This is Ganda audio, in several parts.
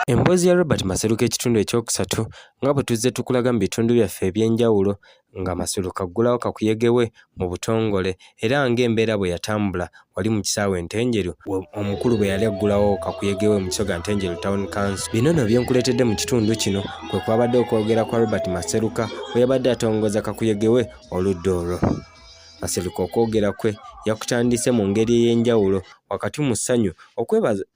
Emboozi ya Robert Maseruka ekitundu ekyokusatu nga bwe tuzze tukulaga mu bitundu byaffe eby'enjawulo nga Maseruka aggulawo kakuyege we mu butongole era ng'embeera bwe yatambula wali mu kisaawe Ntenjeru omukulu bwe yali aggulawo kakuyege we mu kisoga Ntenjeru Town Council. Bino nno byenkuleetedde mu kitundu kino kwe kwabadde okwogera kwa Robert Maseruka bwe yabadde atongoza kakuyege we oludda olwo. Kasereka okwogera kwe yakutandise mu ngeri ey'enjawulo wakati mu ssanyu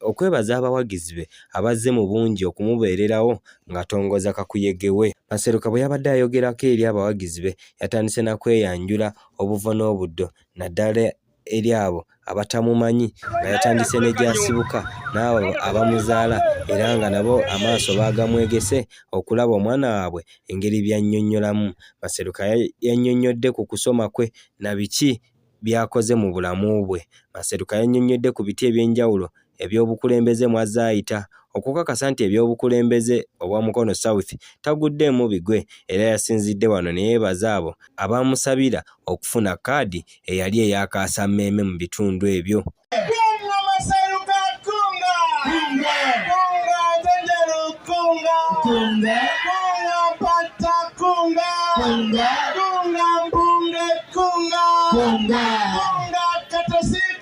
okwebaza abawagizi be abazze mu bungi okumubeererawo ng'atongoza kakuyege we. Maseruka bwe yabadde ayogerako eri abawagizi be yatandise na kweyanjula obuvo n'obuddo naddala eri abo abatamumanyi nga yatandise ne gy'asibuka n'abo abamuzaala era nga nabo amaaso baagamwegese okulaba omwana waabwe engeri by'annyonnyolamu. Maseruka yannyonnyodde ku kusoma kwe na biki by'akoze mu bulamu bwe. Maseruka yannyonnyodde ku biti eby'enjawulo eby'obukulembeze mw'azze ayita okukakasa nti eby'obukulembeze obwa Mukono South taguddeemu bigwe era yasinzidde wano ne yeebaza abo abaamusabira okufuna kkaadi eyali eya kaasammeeme mu bitundu ebyo.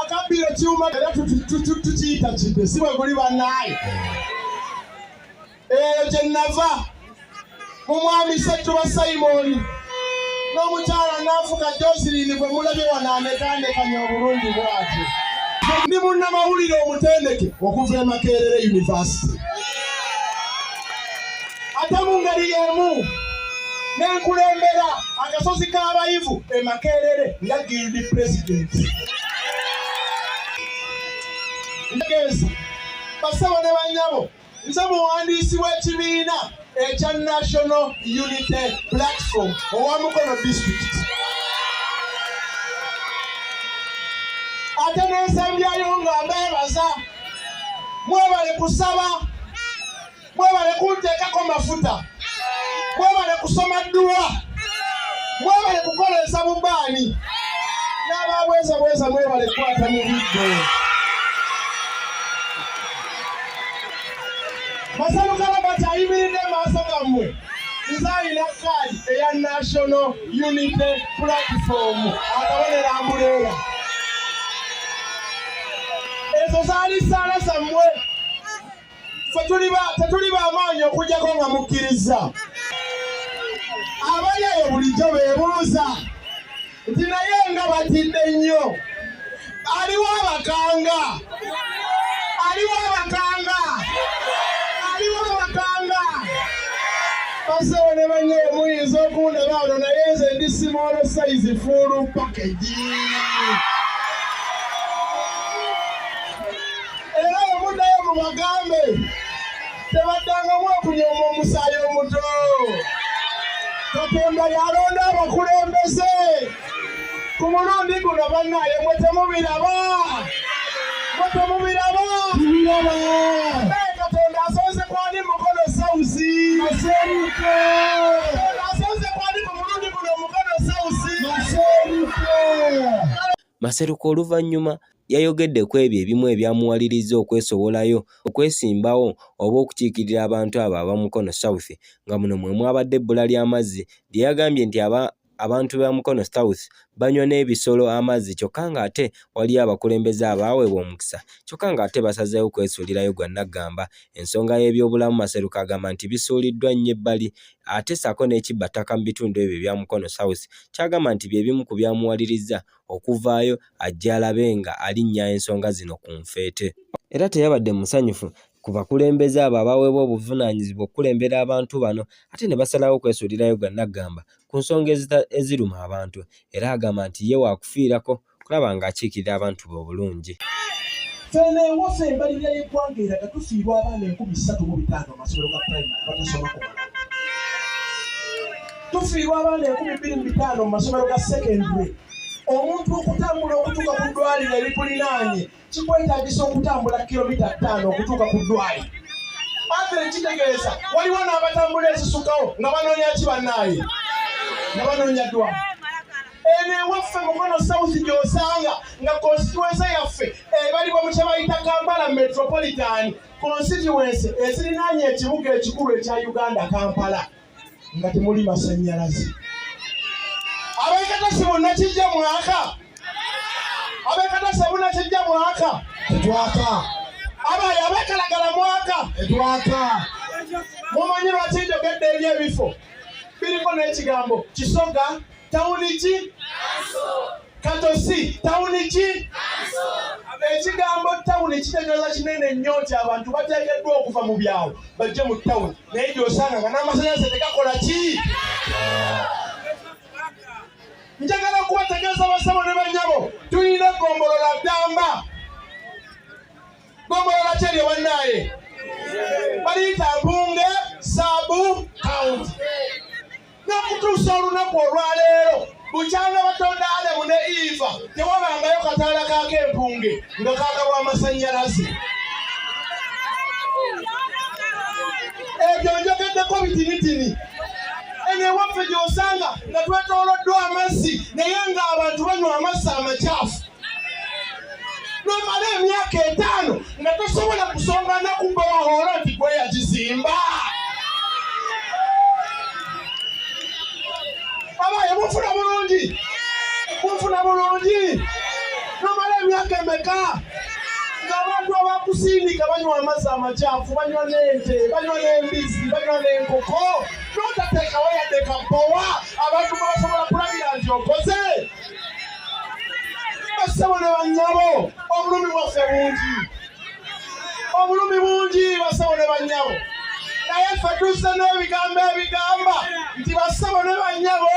akabbira ekyuma era tukiyita kidde si bwe guli bannaaye eyo gye nava mu mwami settuba sayimooni n'omukyala naafuka josirini gwe mulabye wanaanekaanekanya obulungi bwati ndi munnamawulire omutendeke okuva e makerere univasite ate mu ngeri y'emu ne nkulembera akasozi k'abayivu e Makerere nga guild president. Ntegeeza bassebo ne bannyabo nze muwandiisi w'ekibiina ekya National Unity Platform owa Mukono District. ate n'ensembyayo nga mbeebaza mwebale kusaba mwebale kunteekako mafuta mwebale kusoma dduwa mwebale kukoleeza bubaani n'ababweza bweza mwebale kukwata mu biddo masalukalabati ayimiridde maaso gammwe nze alina kaadi eya national unity platform akabonera mbuleera ezo zaali saala zammwe fe tetuli bamaanyi okujjako nga mukkirizza abali eyo bulijjo bebuuza nti naye nga batidde nnyo aliwo abakanga aliwo abakanga aliwo abakanga basewo ne banye muyinza okundaba ono naye nze ndi simoolo sayizi fuulu pakegi era bwe muddayo mubagambe tebaddangamu okunyooma omusaayi omuto katonda yalonda abakulembeze ku mulundi guno bannaye mwe temubiraba mwe temubiraba naye katonda asonze kwani mukono sausi aseruka Maseruka oluvannyuma Yayogedde ku ebyo ebimu ebyamuwalirizza okwesowolayo okwesimbawo oba okukiikirira abantu abo aba Mukono South nga muno mwe mwabadde ebbula ly'amazzi lye yagambye nti aba abantu ba Mukono South banywa n'ebisolo amazzi kyokka ng'ate waliyo abakulembeze abaaweebwa omukisa kyokka ng'ate basazeewo kwesuulirayo gwa nnaggamba. Ensonga y'ebyobulamu Maseruka agamba nti bisuuliddwa nnyo ebbali ate ssaako n'ekibba ttaka mu bitundu ebyo ebya Mukono South ky'agamba nti bye bimu ku byamuwalirizza okuvaayo ajje alabe nga alinnya ensonga zino ku nfeete. Era teyabadde musanyufu ku bakulembeze abo abaweebwa obuvunaanyizibwa okukulembera abantu bano ate ne basalawo okwesuulirayo gwa naggamba ku nsonga eziruma abantu era agamba nti ye waakufiirako okulaba ng'akiikirira abantu be obulungi. Fena ewaffe embalirira y'eggwanga eraga tufiirwa abaana enkumi ssatu mu bitaano mu masomero ga pulayimale abatasoma kumala. tufiirwa abaana enkumi bbiri mu bitaano mu masomero ga sekendule omuntu okutambula okutuuka ku ddwaliro erikulinaanye kikwetagisa okutambula kilomita ttaano okutuuka ku ddwaliro athre kitegeeza waliwo n'abatambula ezisukawo nga banoonya ki bannaaye nga banoonya ddwali eno ewaffe mukono south gyosanga nga konsituensa yaffe ebalibwa mu kyebayita kampala metropolitan konsituensi ezirinaanye ekibuga ekikulu ekya uganda kampala nga temuli masanyalaze abekatasi bonna kijja mwaka abekatasi bonna kijja mwaka tetwaka abaye abekalagala mwaka tetwaka mumanyi lwaki njogedde eri ebifo biriko n'ekigambo kisoga tawuni ki katosi tawuni ki ekigambo tawuni kitegeeza kinene nnyo nti abantu bateekeddwa okuva mu byawo bajje mu tawuni naye gyosanga nga n'amasanyalaze tegakola ki njagala kubategeeza basabo ne banyabo tulina egombolola ddamba gombolola kyeryo bannaaye baliyita mpunge saabu kaunti n'okutuusa olunaku olwaleero bukyanga batonda adamu ne iva tewabangayo kataala kaako empunge nga kagabwa amasannyalaze ebyo njogeddeko bitinitini eno ewaffe gy'osanga nga twetooloddwa amazzi naye ng'abantu banywa amazzi amakyafu nomala emyaka etaano nga tosobola kusonga nakumba wahoola nti gwe yagizimba abaye mufuna bulungi mufuna bulungi nomala emyaka emeka ng'abantu abakusindika banywa amazzi amakyafu banywa n'ente banywa n'embizzi banywa n'enkoko notateekawo yadde kabowa abantu mwebasobola kulabira nti okoze bassebo ne bannyabo obulumi bwaffe bungi obulumi bungi bassebo ne bannyabo naye ffe tuzze n'ebigambo ebigamba nti bassebo ne bannyabo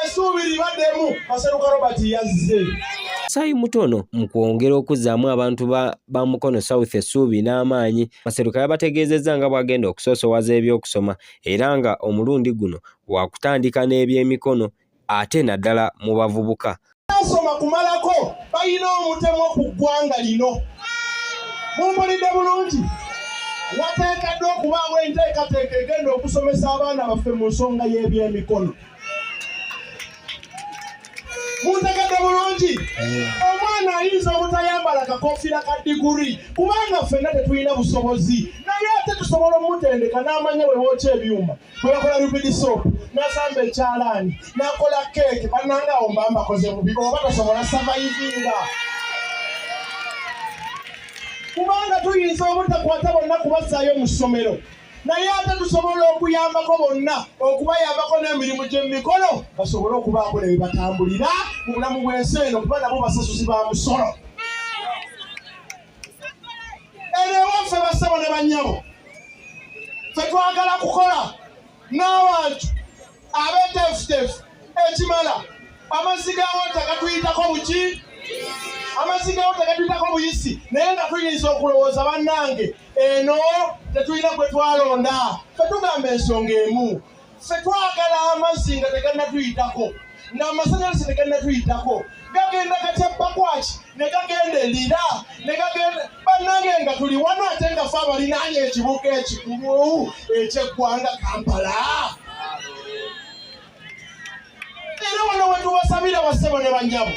esuubi libaddemu maseruka robert yazze Sayi Mutono mu kwongera okuzzaamu abantu ba, ba Mukono South essuubi n'amaanyi Maseruka yabategeezezza nga bw'agenda okusoosowaza eby'okusoma era nga omulundi guno wakutandika n'ebyemikono ate naddala mu bavubuka asoma kumalako balina omutemwa ku ggwanga lino mumpulidde bulungi wateekaddwa okubaawo enteekateeka egenda okusomesa abaana baffe mu nsonga y'ebyemikono muntegedde bulungi omwana ayinza obutayambala kakofiira ka diguri kubanga ffenna tetulina busobozi naye ate tusobola omutendeka n'amanya wewookya ebyuma bwebakola rubidi sop nasamba ekyalaani nakola keeke bananga awo mba mbakoze bubi oba tosobola savayivinga kubanga tuyinza obutakwata bonna kubasaayo mu ssomero naye ate tusobola okuyambako bonna okubayambako n'emirimu gy'emikolo basobole okubaako ne bebatambulira mu bulamu bw'ensi eno kuba nabo basasuzi ba musolo eno ewaffe bassebo ne bannyabo fe twagala kukola n'abantu abeteefuteefu ekimala amazzi ga wota gatuyitako buki amazzi ga wota gatuyitako buyisi naye nga tuyinza okulowooza bannange eno tetulina gwe twalonda fe tugamba ensonga emu ffe twagala amazzi nga teganatuyitako ng'amasannyalaze ne gannatuyitako gagenda gatya bakwaki ne gagenda elira ne gagenda bannange nga tuli wano ate nga fe abalinaanye ekibuga ekikulu ekyeggwanga kampala era wano wetubasabira basebo ne banyabo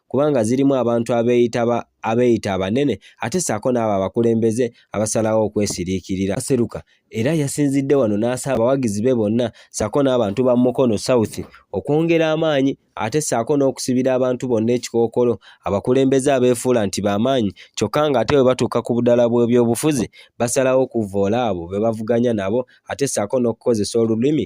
kubanga zirimu abantu abeeyitaba abeeyita abanene ate ssaako n'abo abakulembeze abasalawo okwesiriikirira aseruka era yasinzidde wano n'asaba abawagizi be bonna ssaako n'abantu ba mukono south okwongera amaanyi ate ssaako n'okusibira abantu bonna ekikookolo abakulembeze abeefuula nti b'amaanyi kyokka ng'ate bwe batuuka ku budala bw'ebyobufuzi basalawo okuvvoola abo be bavuganya nabo ate ssaako n'okukozesa olulimi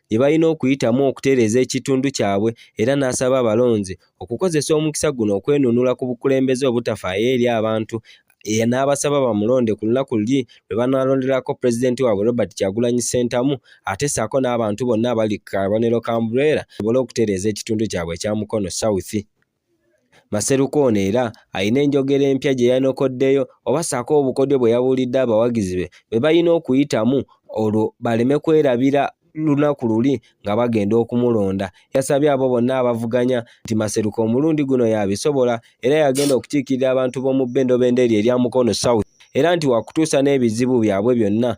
bye balina okuyitamu okutereeza ekitundu kyabwe era n'asaba abalonzi okukozesa omukisa guno okwenunula ku bukulembeze obutafaayo eri abantu era n'abasaba bamulonde ku lunaku luli lwe banaalonderako pulezidenti waabwe Robert Kyagulanyi Ssentamu ate ssaako n'abantu bonna abali ku kabonero ka Umbrella basobole okutereeza ekitundu kyabwe ekya Mukono South. Maseruka ono era alina enjogera empya gye yanokoddeyo oba ssaako obukodyo bwe yabuulidde abawagizi be bwe balina okuyitamu olwo baleme kwerabira lunaku luli nga bagenda okumulonda. Yasabye abo bonna abavuganya nti Maseruka omulundi guno yabisobola era yagenda okukiikirira abantu b'omu Bendobendo eryo erya Mukono South era nti wakutuusa n'ebizibu byabwe byonna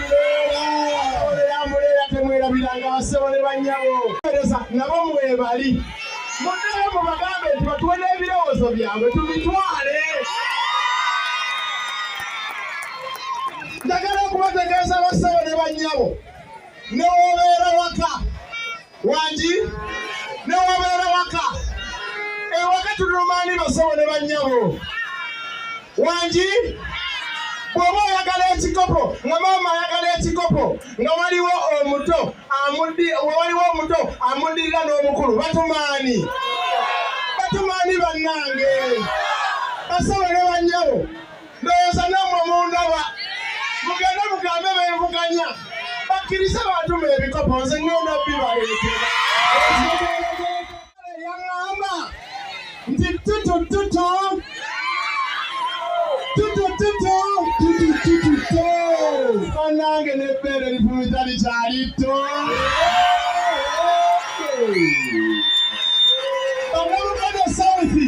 muleera temwerabiranga basebo ne bannyabo ereza nabo mwebali muddeyo mubagambe nti batuwe n'ebirowoozo byabwe tubitwale njagala okubategeeza basebo ne bannyabo newobeera waka wangi newabeera waka ewaka tulumaani basawo ne bannyabo wangi bw'oba oyagala ekikopo nga maama ayagala ekikopo nga waliwo omuto waliwo omuto amuddirira n'omukulu batumaani batumaani bannange basawo ne bannyabo ndowooza nammwe mundaba mugende mugambe bevuganya bakkirize baatuma ebikopo nze ŋŋenda bibaleetera yaŋŋamba nti tutututu tutututu tutututu banange n'ebbeere lifumiza likyali tto bannabuganda sauthi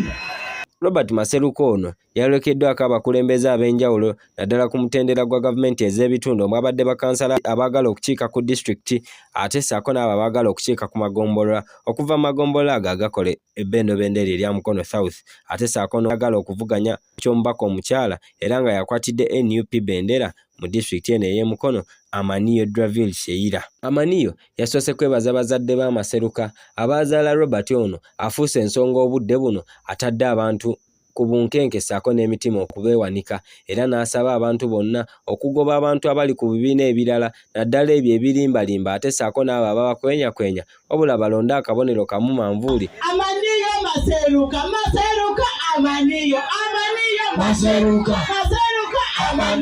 robert maseruka ono yayolekeddwako abakulembeze ab'enjawulo naddala ku mutendera gwa gavumenti ez'ebitundu omwabadde bakansala abaagala okukiika ku disitulikiti ate ssaako n'abo abaagala okukiika ku magombolola okuva mu magombolola ago agakola ebbendobendo eryo erya mukono south ate ssaako n'agala okuvuganya ky'omubaka omukyala era nga yakwatidde nup bendera mu disitulikiti eno ey'e Mukono Amaniyo Draville Sheila. Amaniyo yasoose kwebaza bazadde b'amaseruka abaazaala Robert ono afuuse ensonga obudde buno atadde abantu ku bunkenke ssaako n'emitima okubeewanika era n'asaba abantu bonna okugoba abantu abali ku bibiina ebirala naddala ebyo ebirimbalimba ate ssaako n'abo ababakwenyakwenya wabula balonde akabonero kamu manvuuli amaniyo maseruka maseruka amaniyo amaniyo maseruka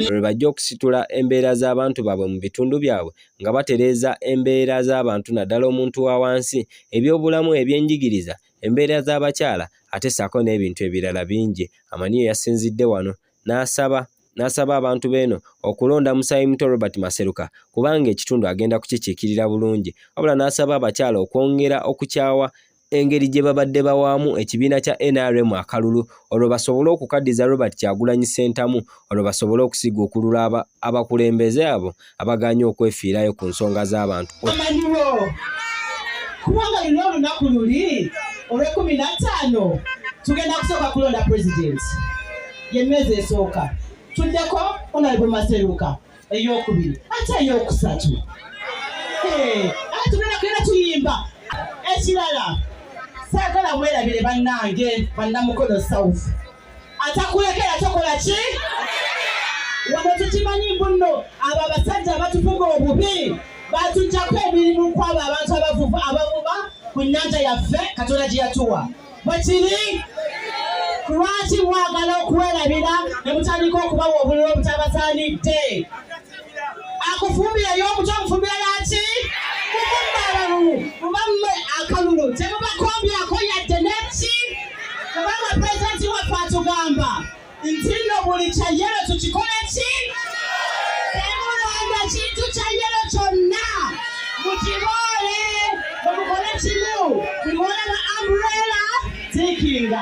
lwe bajja okusitula embeera z'abantu baabwe mu bitundu byabwe nga batereeza embeera z'abantu naddala omuntu wa wansi ebyobulamu ebyenjigiriza embeera z'abakyala ate ssaako n'ebintu ebirala bingi. Amaniyo yasinzidde wano n'asaba n'asaba abantu beeno okulonda musaayi muto Robert Maseruka kubanga ekitundu agenda kukikiikirira bulungi wabula n'asaba abakyala okwongera okukyawa engeri gye babadde bawaamu ekibiina kya nrm akalulu olwo basobole okukaddiza Robert Kyagulanyi Ssentamu olwo basobole okusiguukulula abakulembeze abo abagaanye okwefiirayo ku nsonga z'abantu amanyiwo kubanga luno olunaku luli olwekumi nattaano tugenda kusooka kulonda pulezidenti yemmeezi esooka tuddeko onalebo maseruka eyokubiri ate eyokusatu ate tugenda kugenda tuyimba ekirala saagala mwerabire bannange bannamukono south atakulekera tokola ki wano tukimanyi mbu nno abo abasajja abatufuga obubi batujjako emirimu kwabo abantu abavuva abavuba ku nnyanja yaffe katonda gye yatuwa bwekiri lwaki mwagala okuwerabira ne mutandika okubawa obululu obutabasaanidde akufumbira y'omuto omufumbira yaki kufumba abalulu kuba mmwe akalulu temubakombyako yadde neki kubanga pulezidenti waffe atugamba nti nno buli kyayero tukikole ki temulonda kintu kyayero kyonna mukiboole omukole kimu buli wona ba ambrela tikinga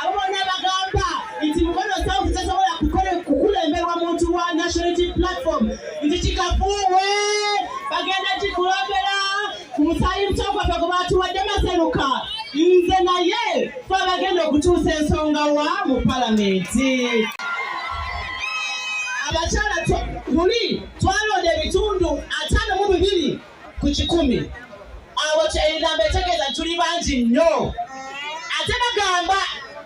Abo bonna bagamba nti Mukono South tesobola kukulemberwa muntu wa National Unity Platform nti kikafuuwe bagenda kikulondera ku musaayi muto gwaffe gwe baatuwadde Maseruka nze naye fe abagenda okutuusa ensonga wa mu palamenti abakyala luli twalonda ebitundu ataano mu bibiri ku kikumi awo enamba etegeeza tuli bangi nnyo ate bagamba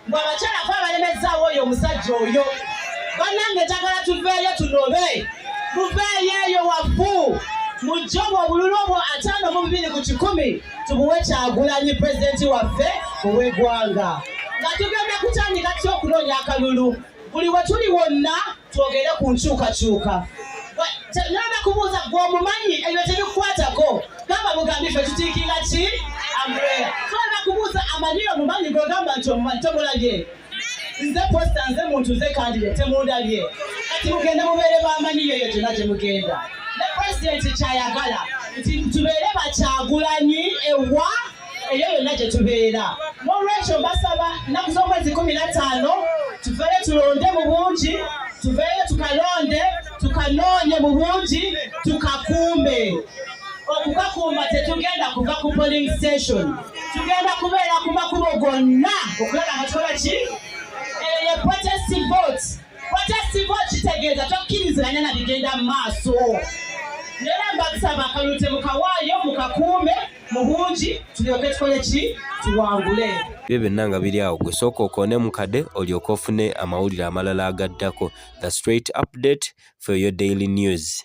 mbu abakyala fe abalemezzaawo oyo omusajja oyo bannange njagala tuveeyo tunobe muveeyo eyo wafu mujje obwo obululu obwo ataano mu bubiri ku kikumi tubuwe kyagulanyi pulezidenti waffe ow'eggwanga nga tugenda kutandika tya okunoonya akalulu buli we tuli wonna twogere ku nkyukakyuka naba kubuuza gwe omumanyi ebyo tebikukwatako gamba bugambi fe tutiikira ki ambrea so naba kubuuza amanyi omumanyi gwegamba nti omumanyi tomulabye nze posta nze muntu nze kandire temundabye kati mugenda mubeere bamanyi yoyo gyona gye mugenda ne presidenti kyayagala nti tubeere bakyagulanyi ewa eyo yonna gye tubeera n'olwekyo mbasaba nnaku z'omwezi kumi na ttaano tuveeyo tulonde mu bungi tuveeyo tukalonde tukanoonye mu bungi tukakuume okukakuuma tetugenda kuva ku polling station tugenda kubeera ku makubo gonna okulaba nga tukola ki eyo ye protest vote protest vote kitegeeza tokkiriziganya na bigenda mu maaso nera mbasaba akalulu temukawaayo mukakuume mu bungi tulyoke tukole ki tuwangule byo byonna nga biri awo gwe sooka okoone mu kade olyoke ofune amawulire amalala agaddako the straight update for your daily news